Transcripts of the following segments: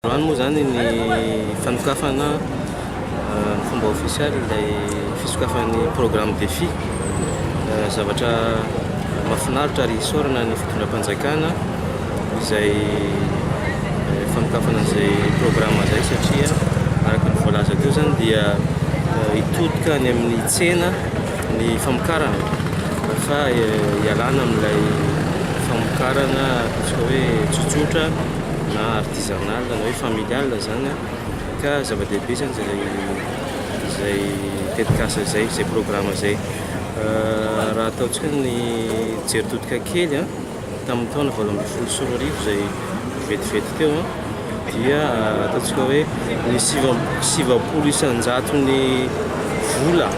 Androany moa izany ny fanokafana ny fomba ofisialy ilay fisokafan'ny programme Defi. Zavatra mahafinaritra ary isaorana ny fitondram-panjakana izay fanokafana an'izay programme izay satria araka ny voalaza teo izany dia hitodika any amin'ny tsena ny famokarana fa ialana amin'ilay famokarana ataontsika hoe tsotsotra. na artisanal na hoe familial izany an, ka zava-dehibe izany izay izay tetikasa izay, izay programa izay. Raha ataontsika ny jery todika kely an, tamin'ny taona valo ambin'ny folo sy roa arivo izay vetivety teo an, dia ataontsika hoe ny sivy amby sivapolo isan-jaton'ny vola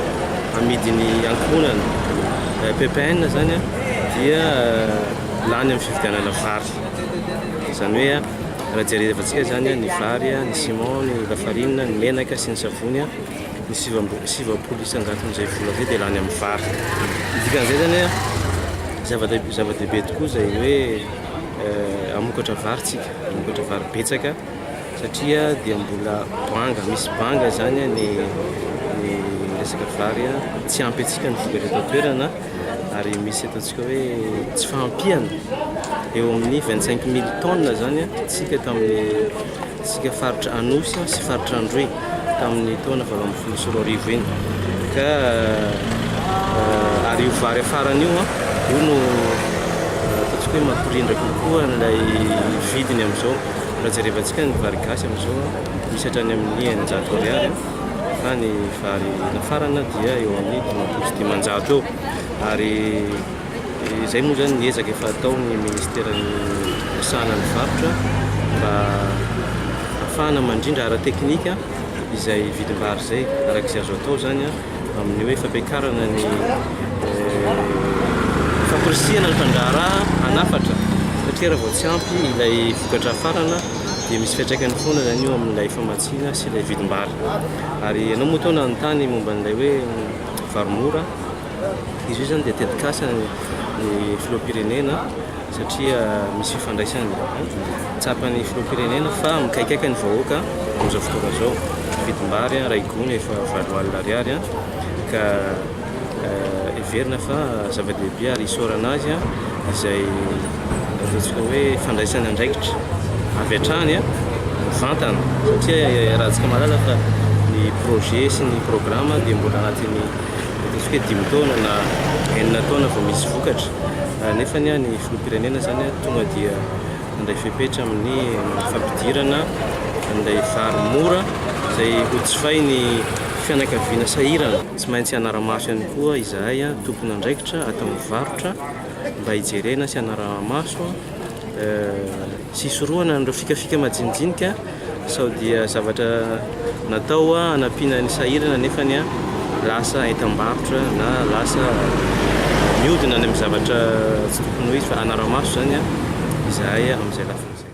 amidin'ny ankohonana ppn izany an, dia lany amin'ny fividianana vary. Izany hoe raha jerevantsika izany ny vary, ny ciment, ny lafarina, ny menaka sy ny savony, ny sivy amby roa- sivy valopolo isan-jaton'izay vola izay dia lany amin'ny vary. Ny dikan'izay izany hoe zava-dehibe zava-dehibe tokoa izay hoe hamokatra vary tsika, hamokatra vary betsaka satria dia mbola banga, misy banga izany ny ny resaka vary, tsy ampy antsika ny vokatra eto an-toerana. ary misy ataontsika hoe tsy fahampiana eo amin'ny 25 mille tonnes zany tsika tamin'ny tsika faritra Anosy sy faritra Androy tamin'ny taona valo ambin'ny folo sy roa arivo iny ka euh, ary io vary afarany io an io no euh, ataontsika hoe mampirindra kokoa an'ilay vidiny amin'izao raha jerevantsika ny vary gasy amin'izao misy hatrany amin'ny eninjato ariary fa ny vary nafarana dia eo amin'ny dimampolo sy dimanjato eo ary izay moa izany ny ezaka efa ataon'ny ministeran'ny fisahana ny varotra mba afahana mandrindra ara-teknika izay vidim-bary izay araka izay azo atao izany amin'ny hoe fampiakarana ny famporisihana ny mpandraharaha hanafatra satria raha vao tsy ampy ilay vokatra hafarana dia misy fiantraikany foana izany eo amin'ilay famatsiana Tsena sy ilay vidim-bary. Ary ianao moa tao nanontany momba an'ilay hoe vary mora? Izy io izany dia tetikasa ny filoham-pirenena satria misy fifandraisany. Tsapan'ny filoham-pirenena fa mikaikaika ny vahoaka amin'izao fotoana izao. Ny vidim-bary iray gony efa valo alina ariary ka. heverina fa zava-dehibe ary isaorana azy izay ataontsika hoe fandraisana andraikitra avy hatrany mivantana satria iarahantsika mahalala fa ny projet sy ny programme dia mbola anatin'ny ataontsika hoe dimy taona na enina taona vao misy vokatra nefa ny any filoham-pirenena izany tonga dia nandray fepetra amin'ny fampidirana an'ilay vary mora izay ho jifain'ny fianakaviana sahirana Tsy maintsy hanara-maso ihany koa izahay tompon'andraikitra ato amin'ny varotra mba hijerena sy hanara-maso sy hisorohana an'ireo fikafika majinijinika sao dia zavatra natao hanampiana ny sahirana nefa lasa entam-barotra na lasa mihodina any amin'ny zavatra tsy tokony ho izy fa hanara-maso izany izahay amin'izay lafiny izay.